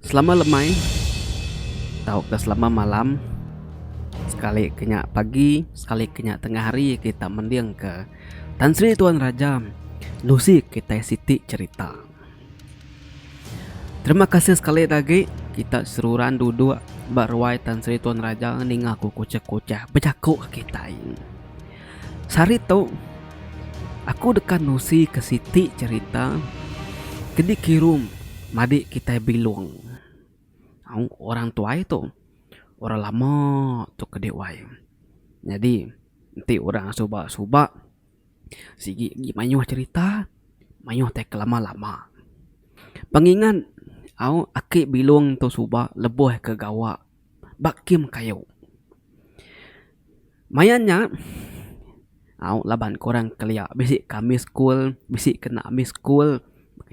Selama lemai tauka selama malam sekali ke nya pagi sekali ke nya tengah hari kita mending ke Tan Sri Tuan Raja nusi kitai siti cerita. Terima kasih sekali lagi kita seruran duduk ba ruai Tan Sri Tuan Raja ninga ku kuchah-kuchah bejaku ke kitai. Sehari tu, aku deka nusika siti cherita ke dikirum madi kitai bilung. Orang tuai tu, orang lama tu ke diwai. Nyadi, enti orang suba-suba sigi agi mayuh cherita, mayuh tai ke lama-lama. Pengingat, au, aki bilung tu suba lebuh ke gawa. ba kem kayu. Maya nya au laban ke orang kelia bisi ke ambi school bisi ke enda ambi school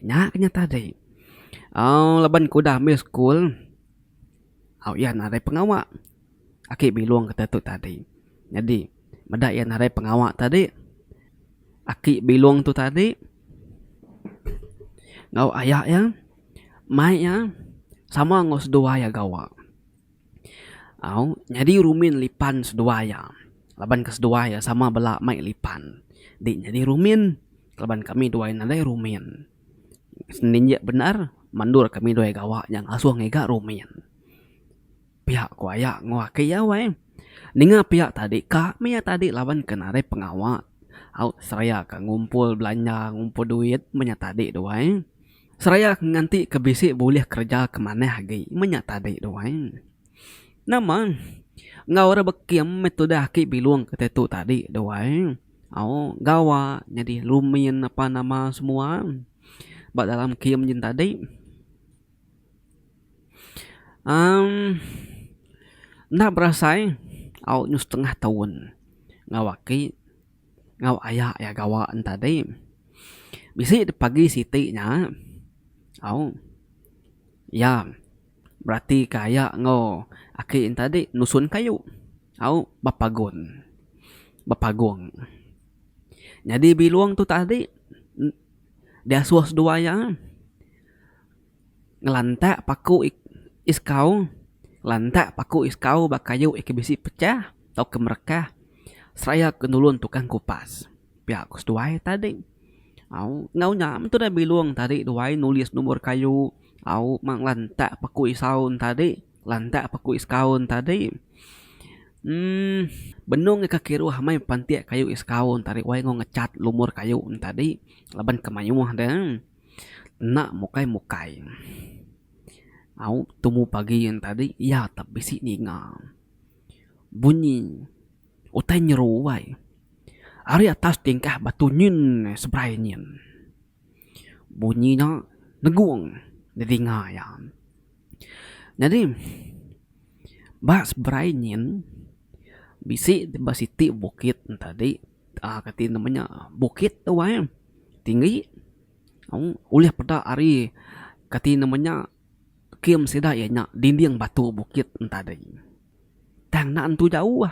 nya ke nyata agi au laban ke udah ambi school au iya narai pengawa ake bilong kata tu tadi nyadi meda iya narai pengawa tadi aki bilong tu tadi enggau aya iya mai iya sama enggau seduai iya gawa au nyadi rumin lipan seduai iya laban ke seduai iya sama bela mai lipan dik nyadi rumin laban kami duai nadai rumin seninjek bendar mandor kami duai gawa nya ngasung iga rumin. Pia ku aya nguaka iya weh. Ninga pia tadi ka meh tadi laban ke narit pengawa au seraya ka ngumpul belanja ngumpul duit meh nya tadi duai. Seraya ke nganti ke bisi bulih kereja ke manah agi meh nya tadi duai. Nama enggau orang bekim meh tudah aki bilong ke ditu tadi duai au gawa nyadi lumin apa nama semua ba dalam kim jen tadi. Amm enda berasai au nyuh setengah taun enggau aki enggau aya iya gawa ne tadi bisi dep pagi siti nya au iya berati ke aya enggau aki ne tadi nusun kayu au ba pagun ba pagung nyadi bilong tu tadi diasuh dua iya. ngelantak paku iskau, ngelantak paku iskau ba kayu iya ke bisi pecah tauka merekah seraya ke nulung tukang kupas pia ku seduai tadi au enggau nya meh tudah bilung tadi duai nulis numur kayu au mang ngelantak paku isau tadi ngelantak paku iskau tadi emm benung nya ke kiruh meh pantik kayu iskau tadi wai enggau ngecat lumur kayu tadi laban ke mayuh deh. Enda mukai mukai. Au tumu pagi yen tadi iya tap bisi ninga bunyi utai nyeru wai ari atas tingkah batu nyin seberai nyin. Bunyi nya negung telinga iya. Nyadi ba seberai nyin bisi ba siti bukit tadi Kaa ka ti nama nya bukit tu ai tinggi ulih peda ari ka ti nama nya kem sida iya nya dinding batu bukit tadi tang enda nentu jauh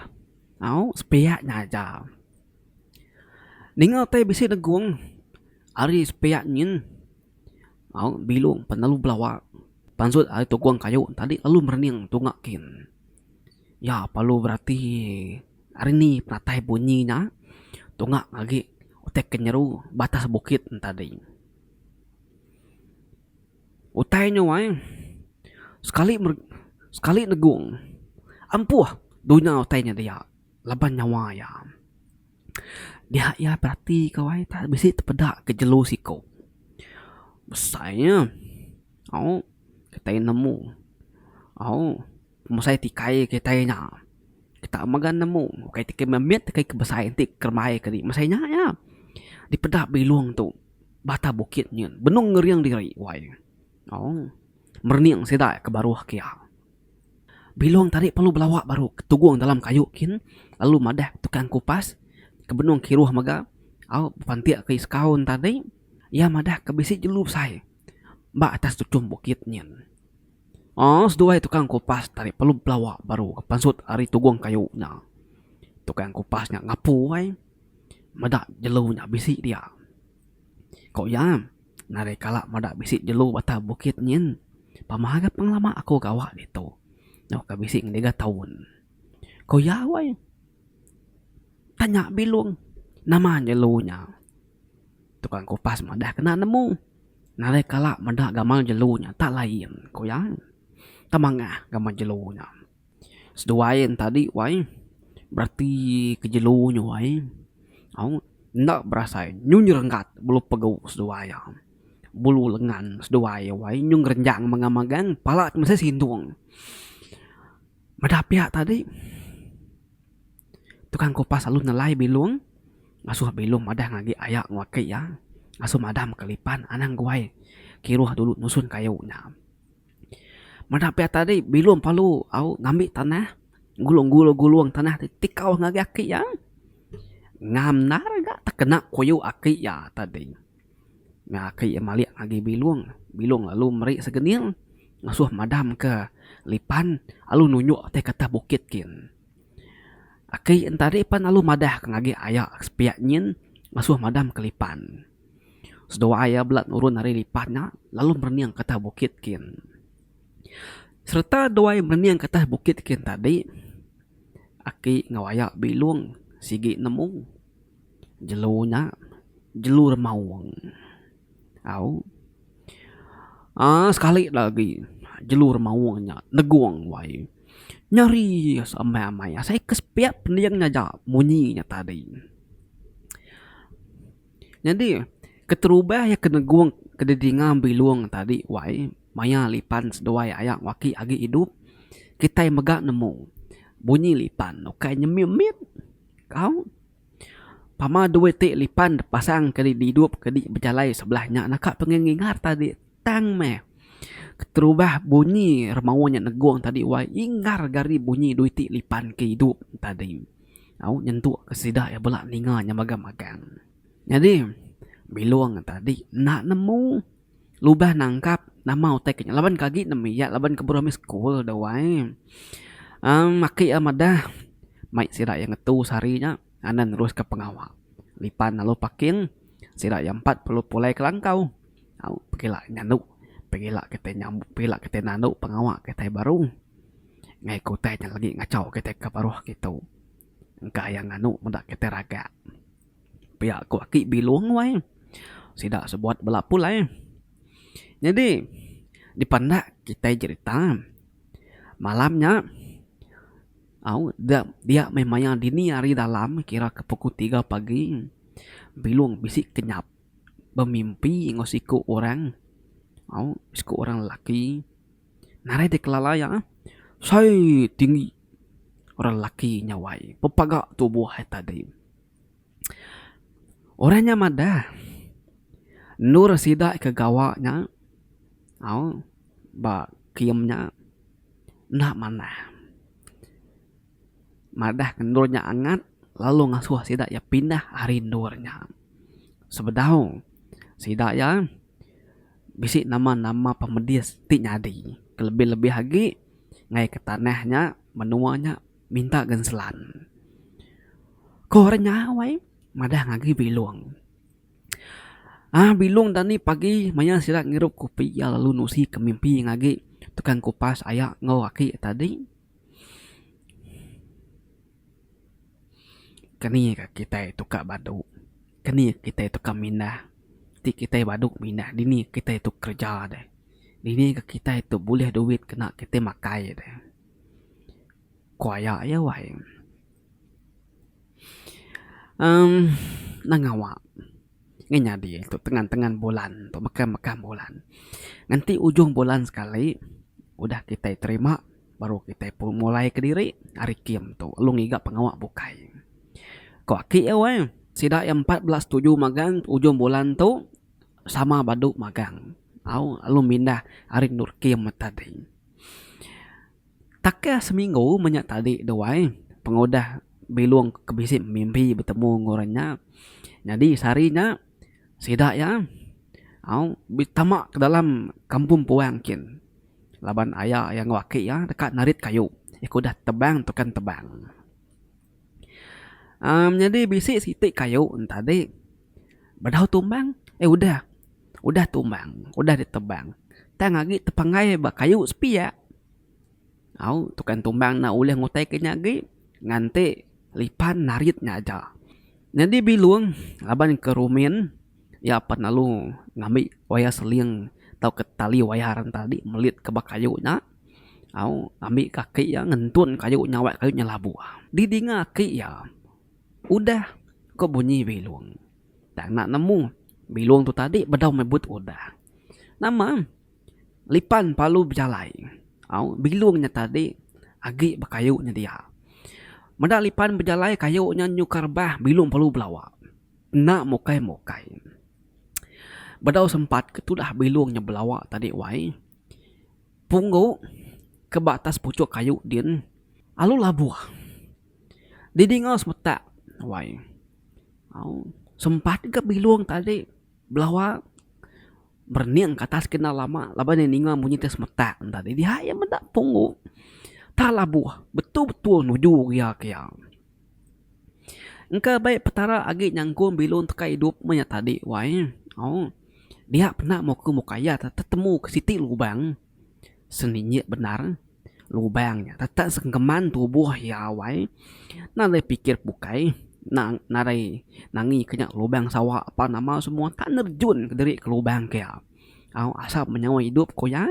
au sepiak nya aja ninga utai bisi negong ari sepiak nyin au bilung pan lalu belawa pansut ari tugong kayu tadi lalu merening tunga kin iya pa lu berati. Ari ni penatai bunyi nya tunga agi utai ke nyeru batas bukit tadi. Utai nyuai sekali sekali negung ampuh dunya utai nya dia laban nyawa iya. Dia iya berati ka wai enta bisi tepeda ke jelu siko. Besai nya au kitai nemu au. Pemusai ti kai kitai nya. Kita mega nemu ukai ti memit ukai ti besai enti kerembai ke di mesai nya iya. Dipeda bilung tu bata bukit nyin benung ngering diri wai. Au merening sida ke baruh ke iya. Bilung tadi perlu belawa baru ketugung dalam kayu kin lalu madah tukang kupas ke benung kiruh mega au bepantik ke sekaun tadi iya madah ke bisi jelu besai ba atas tuchum bukit nyin. Aa seduai tukang kupas tarik pelub pelawa baru ke pansut ari tugung kayu nya. Tukang kupas nya ngapu ai meda jelu nya bisi dia. Ko iya, narai kala meda bisi jelu batang bukit nyin pama ga pengelama aku gawa ditu. Nya uka bisi ngiga taun. Ko iya weh, tanya bilung nama jelu nya. Tukang kupas madah kena nemu. Nalai kala meda gamal jelu nya tak lain ku iya. Tak mangah gamal jelu nya. Seduai enta adi wai bereti ke jelu nya wai au enda berasai nyu nyerenggat bulu pegu seduai iya. Bulu lengan seduai iya wai nyu ngerenjang megang-megang pala ti mesai sindung. Madah pia tadi, tukang kupas lalu nelai bilung ngasuh bilung madah ngagi aya enggau aki iya ngasuh madam ka lipan anang guai kiruh dulu nusun kayu nya. Madah pia tadi bilung perlu au ngambi tanah ngulung-ngulung tanah ti tikau ngagai aki iya ngam endar ga tekena kuyu aki iya tadi. Meh aki iya malik ngagi bilung, bilung lalu meri segening ngasuh madam ke lipan lalu nunjuk ti katah bukit gin. Aki en tadi pan lalu madah ke ngagi aya ke sepi nyin ngasuh madam ke lipan. Seduwa iya bala nurun ari lipan nya lalu merening ke atas bukit gin. Sereta dua iya merening ke atas bukit gin tadi, aki enggau aya bilung sigi nemu. Jelu nya jelu remaung au uhh sekali da agi jelu remaung nya negung wai nyeri amai amai asai ke sepiak pending aja munyi nya tadi. Nyadi keterubah iya ke negung ke didinga bilung tadi wai maya lipan seduai aya ku aki agi idup kitai mega nemu bunyi lipan ukai nyemit mit. Kau? Pama due ti lipan depasang ke didup ke di bejalai sebelah nya naka pengengingar tadi tang meh. Keterubah bunyi remaun nya negung tadi wai ingar gari bunyi due ti lipan ke idup tadi. Au nyentuk ke sida iya bela ninga nya magang-magang. Nyadi Bilong tadi enda nemu. Lubah nangkap nama utai kinya laban ke agi nemu iya laban ke baru amih school da wai uhh aki iya madah mai sida iya ngetu sehari nya anan nerus ka pengawa lipan lalu parking sida iya empat perlu pulai ke langkau au pekila nyandu pekila kitai nyam pekila kitai nadu pengawa kitai baru ngai ke utai nya lagi ngachau kitai ke baruh ke tu engka iya nganu meda kitai raga. Pia ku aki bilong wai sida sebuat bala pulai. Nyadi dipa enda kitai jerita malam nya au dia meh mayar dini hari dalam kira ke pukul tiga pagi bilong bisi kenyap bemimpi enggau siku orang au siku orang lelaki narai deh kelala iya sai tinggi orang lelaki nya wai pepaga tubuh ai tadi. Orang nya madah endur sida ke gawa nya au ba kium nya enda manah. Madah ke endur nya angat lalu ngasuh sida iya pindah ari endur nya. Sebedau sida iya bisi nama nama pemedis ti nyadi kelebih lebih agi ngagai ke tanah nya menua nya. Minta gen selan. Ko orang nya wai madah ngagi bilong. Aah bilong dani pagi maya sida ngirup kopi iya lalu nusi ke mimpi ngagi tukang kupas aya enggau aki tadi. Keni ka kitai tukar badu. Keni ka kitai tukar mindah. Ti kitai badu mindah dini kitai tu kerja deh. Dini ka kitai tu bulih duit kena kitai makai deh. Ku aya iya wai. Em nang ngawa ngin nyadi tu tengan tengan bulan tu mekam mekam bulan nganti ujung bulan sekali udah kitai terima baru kitai pun mulai kediri ari kim tu lalu ngiga pengawa bukai. Ku aki iya wai sida iya empat bela setuju magang ujung bulan tu sama badu magang au lalu mindah ari endur kim tadi. Takah seminggu menya tadi tu ai pengudah bilung ke bisi mimbi betemu enggau orang nya nyadi sehari nya sida iya au betama ke dalam kampung puang kin laban aya iya enggau aki iya deka narit kayu iya ke udah tebang tukang tebang. Am nyadi bisi siti kayu entadi bedau tumbang eh udah udah tumbang udah ditebang tang agi tepenggai ba kayu sepiak au tukang tumbang enda ulih ngutai ke nya agi nganti lipan narit nya aja nyadi bilung laban ke rumin iya pan lalu ngambi wayar seling tauka tali wayar enti adi melit ke ba kayu nya. au ngambi ka aki iya ngentun kayu nyawai kayu nyelabuh di dinga aki iya udah ko bunyi bilung tang enda nemu bilung tu tadi bedau mebut udah nama lipan palu bejalai au bilung nya tadi agi ba kayu nya dia meda lipan bejalai kayu nya nyukar bah bilung perlu belawa enda mukai mukai bedau sempat ke tudah bilung nya belawa tadi wai. Punggu ke ba atas puchuk kayu din alu labuh didinga semetak wai au sempat ga bilung tadi belawa berening ke atas kena lama laban iya ninga bunyi ti semetak tadi diha iya meda punggu ta labuh betul-betul nuju iya ke iya. Engka bai petara agi nyangkung bilun teka idup menya tadi wai ooh dia pena muka muka iya tetemu ke siti lubang seminit bendar lubang nya teta sengkeman tubuh iya wai nadai pikir bukai nang nadai nangi ke nya lubang sawa apan nama semua enta nerejun kediri ke lubang ke iya ooh asal menyawa idup ku iya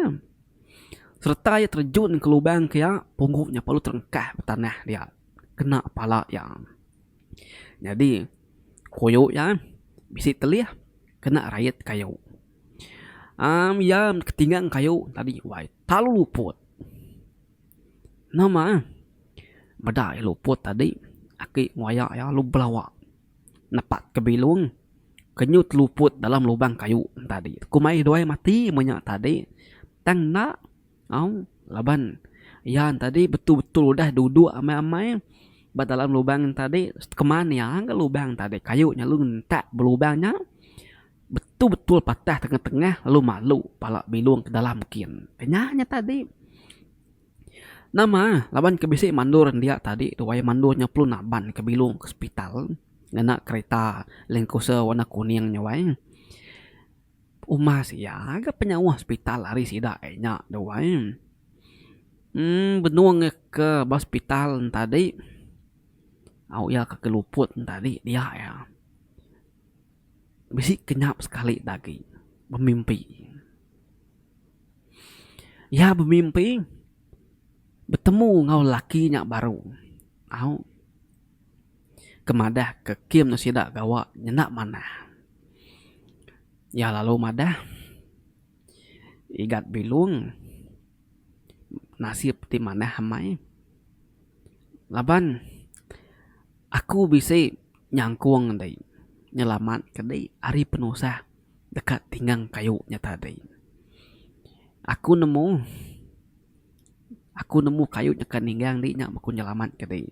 sereta iya terejun ke lubang ke iya pugu nya perlu terengkah tanah dia. kena pala iya. Nyadi koyo iya bisi telih kena rayat kayo. Am iya ketingang kayo tadi wai talu luput. Nama meda iya luput tadi aki ngoya iya lalu belawa nepak ke bilung kenyut luput dalam lubang kayo tadi. Ku mai dua mati menya tadi tang enda Au, laban iya entadi betul-betul udah duduk amai-amai ba dalam lubang entadi keman iya ga lubang entadi kayu nya lalu ngentak ba lubang nya betul-betul patah tengah-tengah lalu malu pala bilung ke dalam kin. Nya nya tadi. Nama laban ke bisi mandor enda iya tadi tu wayah mandor nya perlu naban ke bilung ke hospital ngena kereta land cruiser warna kuning nya wai. Umas iya ga penyauh sepital ari sida ai nya tu ai. Em benung ke ba sepital tadi au iya ke keluput tadi dia iya bisi kenyap sekali ti agi bemimpi. Iya bemimpi betemu enggau lelaki nya baru au ke madah ke kem sida gawa nyenda manah. Iya lalu madah Igat Bilung nasib ti manah amai laban aku bisi nyangkung di nyelamat ke di ari penusah deka tinggang kayu nya tadi. Aku nemu. Aku nemu kayu nyaka ninggang indi nya ku nyelamat ke diri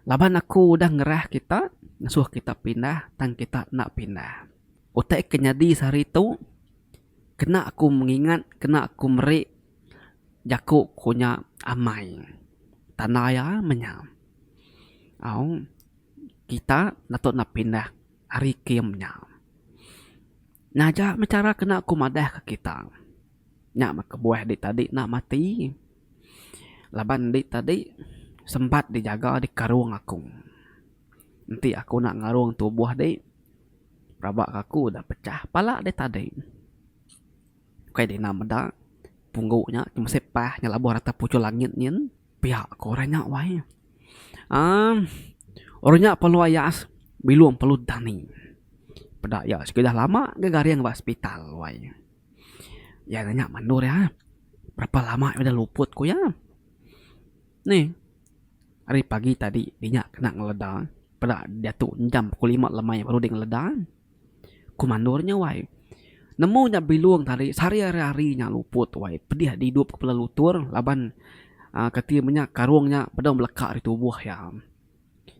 laban aku udah ngerah kita ngesuh kita pindah tang kita enda pindah. Utai ke nyadi sehari tu kena aku mengingat kena aku meri jaku ku nya amai tanda iya meh nya au kita patut enda pindah ari kiye meh nya. Naja meh cara kena aku madah ke kita. Nya meh kebuah dik tadi enda mati. Laban dik tadi sempat dijaga di karung aku. Enti aku enda ngarung tubuh dik, rabak aku udah pecah pala dik tadi. Ukai dina meda, punggu nya ke mesei pah ngelabuh rata puchur langit nyin, piak ku orang nya wai. Aaa orang nya perlu ayas bilung perlu dani. Peda iya sekeda lama gegaring ba sepital wai. Iya nanya mandor iya, berapa lama udah luput ku iya. Nih ari pagi tadi inya kena ngeleda peda diatu jam pukul lima lemai baru deh ngeleda. Ku mandor nya wai nemu nya bilung tadi sehari ari ari nya luput wai pedih agi idup ke bala lutur laban uhh keti meh nya karung nya deh beleka ari tubuh iya.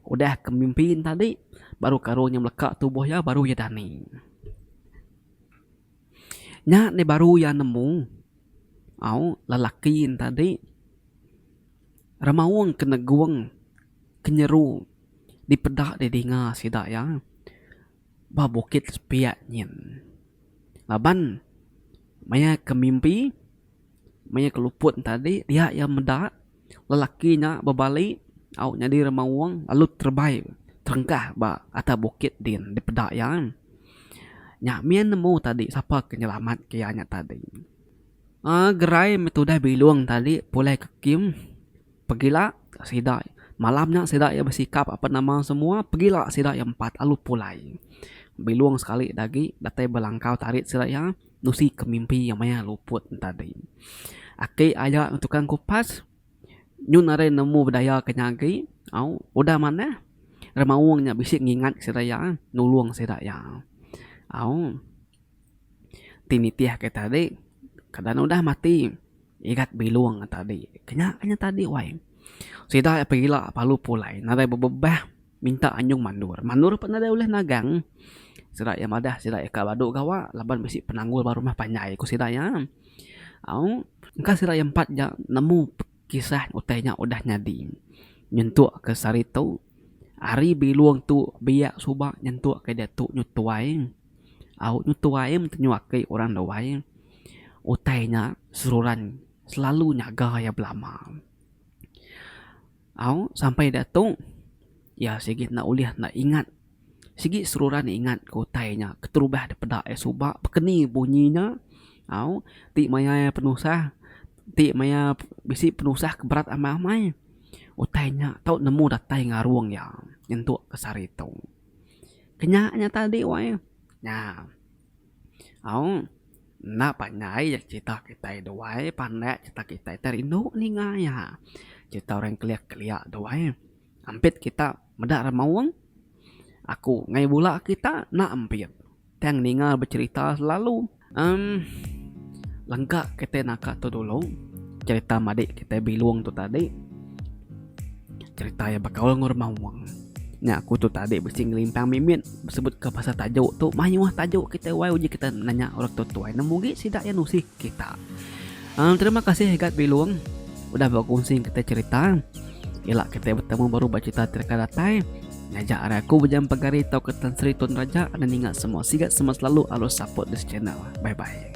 Udah ke mimpi ne tadi baru karung nya beleka tubuh iya baru iya dani. Nya deh baru iya nemu au lelaki en tadi remaung ke negung ke nyeru dipeda didinga sida iya ba bukit sepiak nyin laban maya ke mimpi. Maya ke luput enti tadi, dia iya meda lelaki nya bebali au nyadi remaung lalu terebai terengkah ba atas bukit din dipeda iya. Nya min nemu tadi sapa ke nyelamat ke iya nya tadi. uhh gerai meh tudah bilung tadi pulai ke king pegila sida malam nya sida iya besikap apa nama semua pegila sida iya empat lalu pulai. Bilung sekali agi datai belangkau tarit sida iya. nusi ke mimpi iya maya luput entadi. Aki aya ngan tukang kupas nyu narai nemu bedaya ke nya agi au udah manah remaung nya bisi ngingat sida iya nulung sida iya au ti nitih ke tadi kada ne udah mati igat bilung tadi kena kena tadi wai sida pegila palu pulai narai bebebah Minta anyung mandur. Mandur pun nadai ulih nagang. Sida iya madah sida iya ka badu gawa laban bisi penanggul ba rumah panjai ku sida iya. Au, engka sida iya empat ja nemu kisah utai nya udah nyadi. Nyentuk ke sehari tu, hari bilung tu biak suba nyentuk ke diatu nyu tuai. Au, nyu tuai meh tenyu aki orang duai. Utai nya seruran selalu nyaga iya belama. Au, sampai da tu, iya sigi enda ulih enda ingat. Sigi seruran ingat ke utai nya keterubah dipeda iya suba, bekeni bunyi nya. Au, ti maya iya penusah, ti maya bisi penusah ke berat amai-amai. Utai nya tau nemu datai ngarung iya nyentuk ke sehari tu. Ke nya nya tadi wai. Nya. Aung, enda panjai ya cerita kitai duai pandak cerita kitai te rindu ninga iya. Cerita orang kelia kelia duai ampit kita meda ra maung aku ngai bula kita enda ampit tang ninga becerita selalu emm lengka kitai naka tu dulu cerita madik kitai bilong tu tadi. Cerita iya bekaul enggau rumah wang. Nya aku tu tadi bisi ngelimpang mimit sebut ke pasal tajuk tu mayuh tajuk kita wai uji kita nanya orang tua tuai nemu agi sida iya nusih kita. Um, terima kasih Igat Bilung udah berkongsi kita cerita. Ila kita bertemu baru bercerita terka datai. Ngajak arah aku bejam pegari tau ke Tan Sri Tun Raja ada ninga semua sigat semua selalu alus support this channel. Bye bye.